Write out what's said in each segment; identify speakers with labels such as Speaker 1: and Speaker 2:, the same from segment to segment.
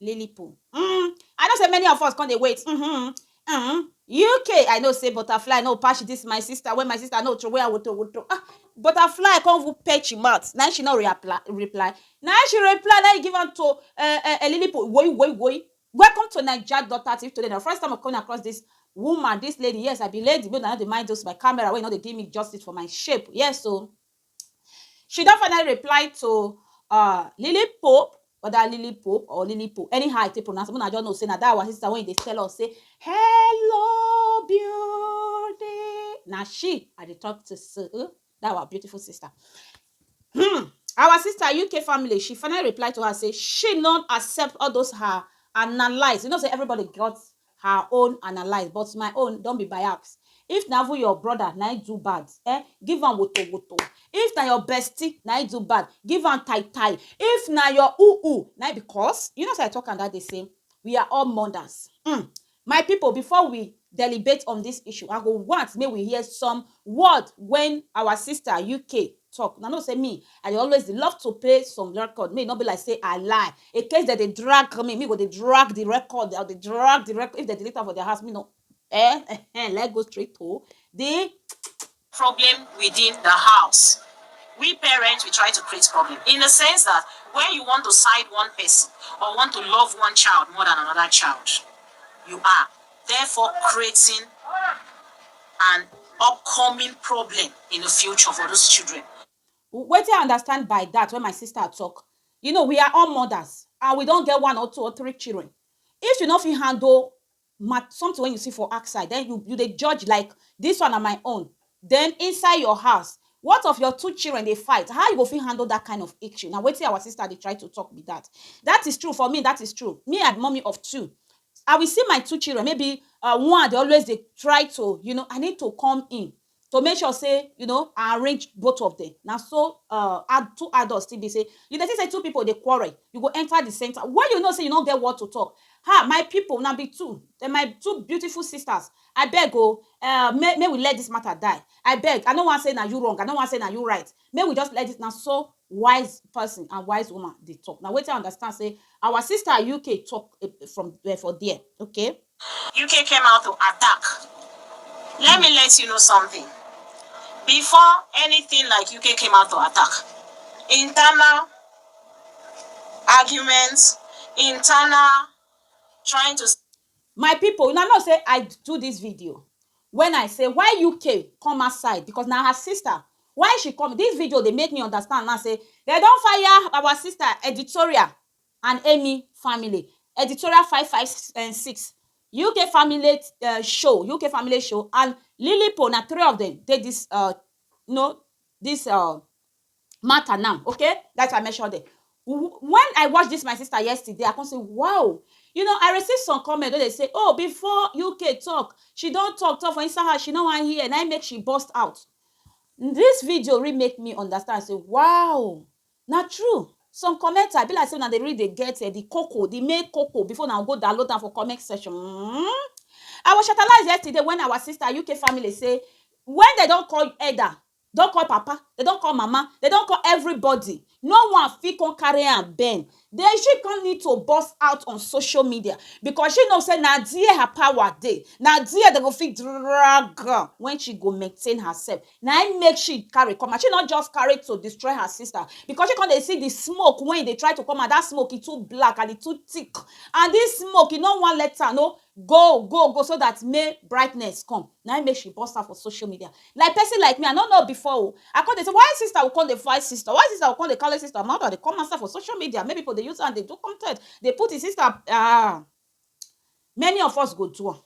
Speaker 1: Lily poo uhmm I know say many of us come dey wait uhmm uhmm UK I know say butterfly no patch this my sister when my sister no throway am woto woto ah butterfly come even patch him mouth na him she no reapply reply na him she reply na him give am to eh eh Lily poo woyi woyi woyi welcome to naija dot at if today na your first time of coming across this woman this lady yes I be lady make una no dey mind those my camera wey no dey give me justice for my shape yes o. She don finally reply to um Lily Pope whether Lily Pope or Lily Pope anyhow I take pronounce am una just know say na that our sister wey dey tell us say hello beauty na she I dey talk to so that our beautiful sister um our sister UK family she finally reply to her say she no accept all those her analyse you know say everybody get her own analyse but my own don be biax if na even your brother na im do bad eh give am woto woto if na your bestie na im do bad give am tai tai if na your u u na im because you know say I talk am that day say we are all mothers hmm my people before we delibate on this issue I go want make we hear some word when our sister UK talk una know say me I dey always dey love to play some record make e no be like say I lie in case dem dey drag me me go dey drag the record I go dey drag the record if dem delete am for their house me no eh ehen let's go straight to the problem
Speaker 2: within the house we parents we try to create problem in the sense that when you want to side one person or want to love one child more than another child you are. therefore creating an upcoming problem in the future for those children. Wetin I
Speaker 1: understand by that when my sister talk, you know we are all mothers and we don get one or two or three children. If you no fit handle something wey you see for outside, then you you dey judge like this one na my own, Den inside your house, what of your two children dey fight, how you go fit handle dat kind of issue, na wetin our sister dey try to talk be dat. Dat is true for me, dat is true, me I be mummy of two, I will see my two children, maybe um one dey always dey try to you know, I need to come in to make sure sey you know I arrange both of dem, na so um two adult still be sey, you dey see sey two pipu dey quarrel, you go enter di center, wen you know sey you nor get word to talk, ha my pipu una be two, na my two beautiful sisters. I beg o eh Make make we let this matter die I beg I no wan say na you wrong I no wan say na you right Make we just let this Na so wise person and wise woman dey talk Na wetin I understand say our sister UK talk from for there okay. UK came
Speaker 2: out to attack Let me let you know something Before anything like UK came out to attack Internal arguments Internal trying to My people una
Speaker 1: know say I do this video when I say why UK come outside because na her sister why she come this video dey make me understand now say dem don fire our sister editorial and Amy family editorial five five um six UK family um show UK family show and Lilipo na three of them dey this um no this um matter now okay that is why I mention dem when I watch this my sister yesterday I come say wow you know I receive some comment wey dey say oh before UK talk she don talk talk for inside house she no wan hear na im make she burst out this video really make me understand say wow na true some commenter be like say una dey really dey get the eh, cocoa the main cocoa before una go download am for comment section mm. I was shatalized yesterday when our sister UK family say when they don call Eda don call papa, dem don call mama, dem don call everybody, no one fit come carry am bend, then she come need to burst out on social media because she know say na there her power dey, na there dem go fit drag am when she go maintain herself, na im make she carry come out, she no just carry to destroy her sister because she come dey see the smoke wey e dey try to come out, that smoke e too black and e too thick and this smoke e no wan let am know Go go go so that may brightness come na im make she burst out for social media like person like me I no know before o I come dey say why sister go come dey fight sister why sister go come dey carry sister matter dey come outside for social media make people dey use am dey do content dey put im sister ah many of us go do am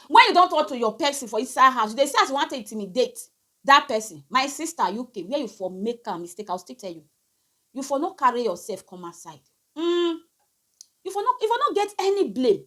Speaker 1: when you don talk to your person for inside house you dey see as you wan take intimidate that person my sister UK where you for make am mistake I will still tell you you for no carry yourself come outside um You for no you for no get any blame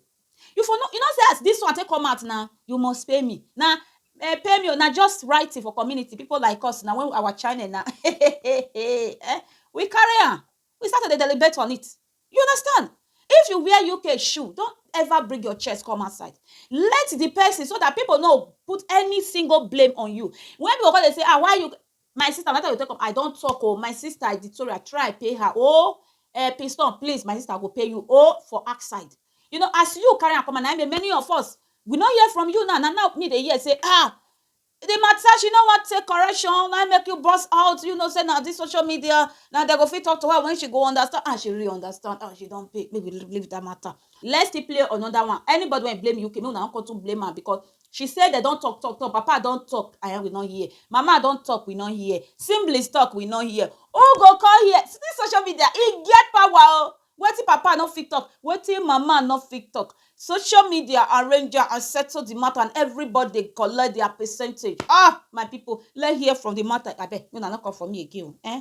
Speaker 1: you for no you no say as this one take come out now you must pay me na eh, pay me o na just writing for community people like us na when our channel na eh, we carry am we start to dey deliberate on it you understand if you wear UK shoe don't ever bring your chest come outside let the person so that people no put any single blame on you when people come dey say ah why you My sister na that time you take come I don talk oh my sister Victoria try pay her oh eh Piston please my sister go pay you oh for act side you know as you carry am come out na im many of us we no hear from you now na now me dey hear say ah the matter she no wan take correction na im make you burst out you know say na this social media na they go fit talk to her when she go understand and she really understand and she don pay make we leave that matter let's still play another one anybody wey blame UK make una no come too blame am because She say dem don talk talk talk papa don talk aya we no hear mama don talk we no hear siblings talk we no hear who go come hear see this social media e get power o wetin papa no fit talk wetin mama no fit talk social media arrange am and settle the matter and everybody dey collect their percentage ah my people let hear from the matter abeg make una no come for me again o eh.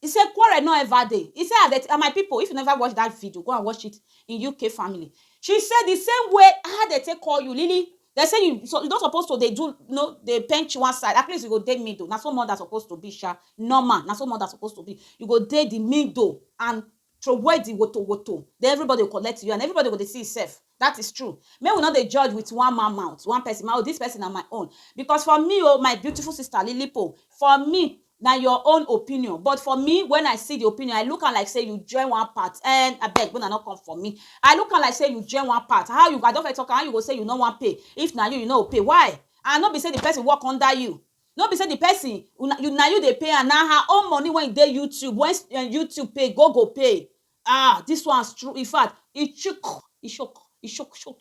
Speaker 1: He say quarrel no ever dey. He say and my people if you never watch that video go and watch it in UK family. She say the same way how dem take call you Lily dem say you you no suppose to dey do you know dey bench one side at least you go dey middle na so mother suppose to be sha normal na so mother suppose to be you go dey the middle and Throway di woto woto, den everybody go collect you and everybody go dey see himself, dat is true. Make we no dey judge with one man mouth, one person mouth, oh dis person na my own because for me oh, my beautiful sister Lilipo, for me na your own opinion but for me when I see di opinion, I look am like sey you join one part ehn, abeg make una no come for me, I look am like sey you join one part, how you, I don first talk am, how you go sey you no wan pay if na you, you no go pay why and no be sey di person work under you, no be say the person una you na you dey pay am na her own money wey dey YouTube when um YouTube pay go go pay ah this one strong infact e chook e shock e shock shock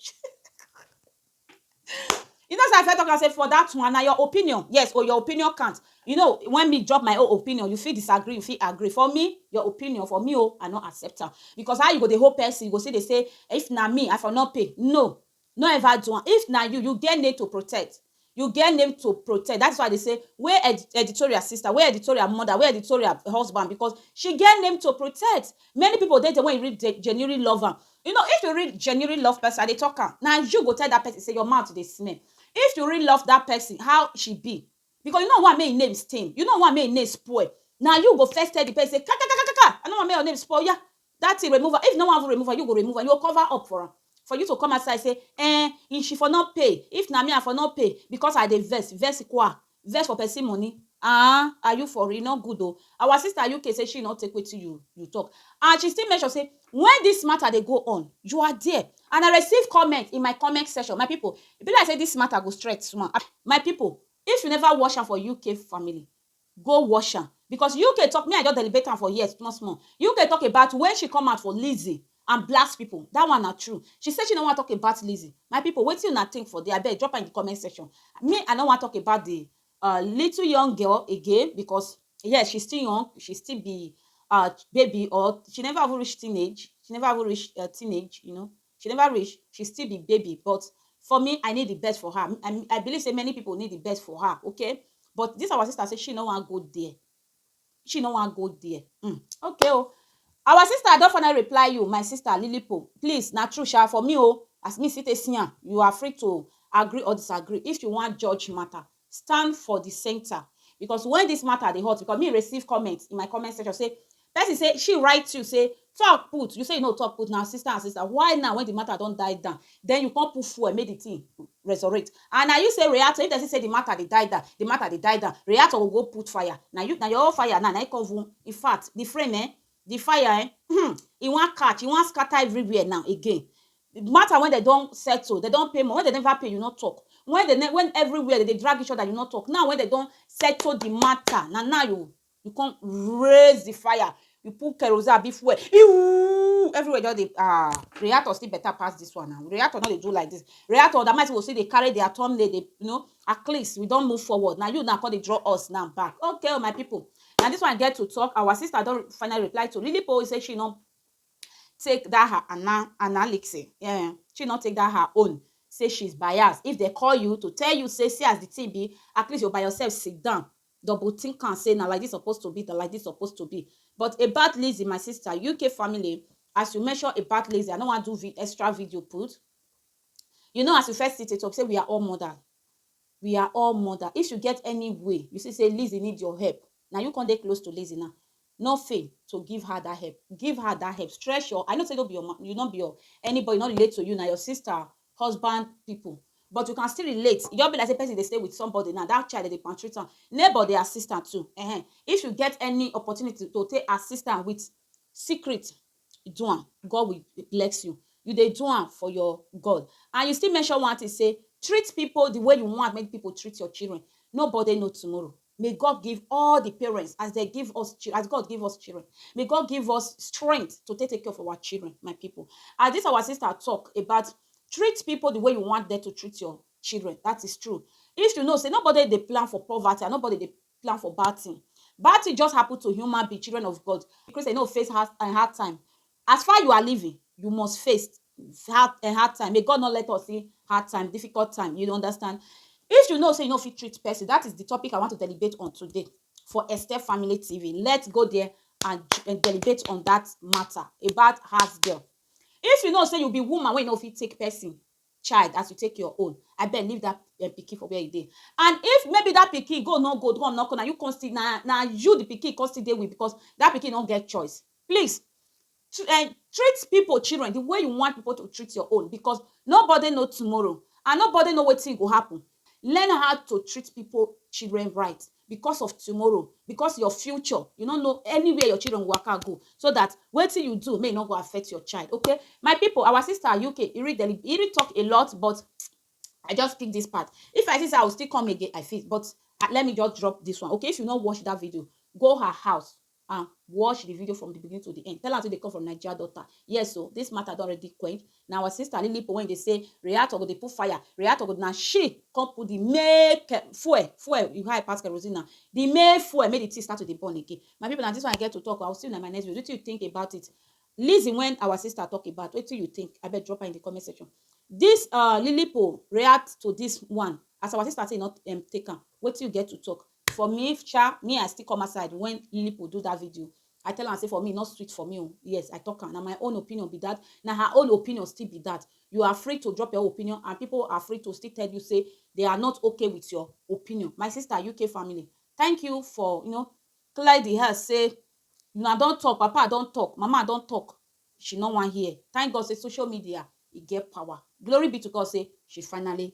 Speaker 1: you know say i first talk am say for that one na your opinion yes o your opinion count you know when me drop my own opinion you fit disagree you fit agree for me your opinion for me o i no accept am because how you go dey hold person you go still dey say if na me i for no pay no No ever do am if na you, you get name to protect You get name to protect That is why I dey say wey editorial sister Wey editorial mother Wey editorial husband Because she get name to protect Many people dey there when you read dey genuinely love am You know if you real genuinely love person I dey talk am Na you go tell that person say your mouth dey smell If you real love that person how she be Because you no want make im name stain You no want make im name spoil Na you go first tell the person say kakakakaka I no want make your name spoil Oya That thing remove am, if you no wan even remove am, you go remove am, you go cover up for am, for you to come outside say eeh if she for no pay, if na me I for no pay because I dey vex, vex kwa, vex for person money aah, are you for real, e no good o, our sister UK say she no take wetin you you talk and she still make sure say when this matter dey go on, you are there and I receive comment in my comment section, my people e be like say this matter go straight small, my people if you never watch am for UK family, Go wash am because UK talk me I just delibate am for here small small UK talk about when she come out for Lizzy and blast people that one na true she say she no wan talk about Lizzy my people wetin una think for there abeg drop am in the comment section me I no wan talk about the uh, little young girl again because yes she still young she still be uh, baby or she never even reach teenage she never even reach uh, teenage you know She never reach, she still be baby but for me I need the best for her, I I believe say many people need the best for her okay but this our sister say she no wan go there, she no wan go there um okay o. Our sister I don finally reply you my sister Lilipo please na true sha for me o as me still take see am you are free to agree or disagree if you wan judge matter stand for di centre because wen dis matter dey hot because me receive comment in my comment section say person say she write you say talk put you say you no talk put na sister and sister why now wen di matter don die down den you come put fuel make di thing resurrect and na you say reactor if person say di matter dey die down di matter dey die down reactor go go put fire na you na your own fire now na im come even infact di flame um The fire ehn, hmm, e wan catch, e wan scatter everywhere now again. The matter when dem don settle, dem don pay money, when dem never pay, you no talk. When dem, when everywhere dem dey drag each other, you no talk. Now when dem don settle the matter, na now you you come raise the fire, you put kerosene abi fuel, iwuuuuuu, everywhere just dey ah, reactor still better pass this one na, reactor no dey do like this. Reactor na my sey go still dey carry their thumb nail dey, you know, at least we don move forward, na you now come dey draw us now back. Okay o my people, Na this one get to talk our sister don finally reply to Lily Poll say she no take that her ana analysis yeah she no take that her own say she's biased if they call you to tell you say see as the thing be at least you by yourself sit down double think am say na like this suppose to be na like this suppose to be but about Lizzy my sister UK family as you mention about Lizzy I no wan do extra video put you know as you first see it up say we are all mothers We are all mother if you get any way you see say Lizzy need your help na you come dey close to Lizzy now no fail to give her that help give her that help stretch your I know say no be your you no be your anybody no relate to you na your sister husband people but you can still relate e just be like say person dey stay with somebody now that child dey dey maltreat am neighbor dey assist am too um if you get any opportunity to take assist am with secret do am, God will bless you. You dey do am for your God. And you still mention one thing say treat people the way you want make people treat your children. Nobody know tomorrow. May God give all the parents as they give us chil- as God give us children. May God give us strength to take take care of our children, my people. As this our sister talk about treat people the way you want them to treat your children. That is true. If you know, say nobody they plan for poverty and nobody they plan for bad thing bad thing just happen to human being children of God Christian no face hard um hard time as far you are living you must face hard um hard time may God no let us see hard time difficult time you understand if you know say you no fit treat person that is the topic I want to deliberate on today for Esther Family TV let's go there and um deliberate on that matter about house girl if you know say you be woman wey no fit take person child as you take your own abeg leave that um, pikin for where e dey and if maybe that pikin go no go come no come na you come still na na you the pikin come still dey with because that pikin no get choice please uh, treat people children the way you want people to treat your own because nobody know tomorrow and nobody know wetin go happen learn how to treat people children right because of tomorrow, because your future, you no know anywhere your children go waka go, so that wetin you do make e no go affect your child, okay. My people, our sister Ayoke, e really deli e really talk a lot but I just pick this part. If I see say I will still come again, I fit but let me just drop this one, okay. If you no watch that video, go her house, and watch the video from the beginning to the end tell am say dey come from naija daughter yes o this matter don already quench na our sister lilipo wey dey say reactor go dey put fire reactor go na she come put the make eh, fuel fuel you high pass kerosene na the make fuel make the thing start to dey burn again my people na this one i get to talk i will see you na my next video wetin you think about it listen when our sister talk about wetin you think abeg drop am in the comment section this uh, lilipo react to this one as our sister say e no um, take am wetin you get to talk For me sha, me I still come outside when Lilipu do that video, I tell am say for me e no sweet for me o, yes I talk am, na my own opinion be that, na her own opinion still be that, you are free to drop your own opinion and people are free to still tell you say they are not okay with your opinion, my sister UK family thank you for you know clear the air say una don talk, papa don talk, mama don talk she no wan hear, thank God say social media e get power, glory be to God say she finally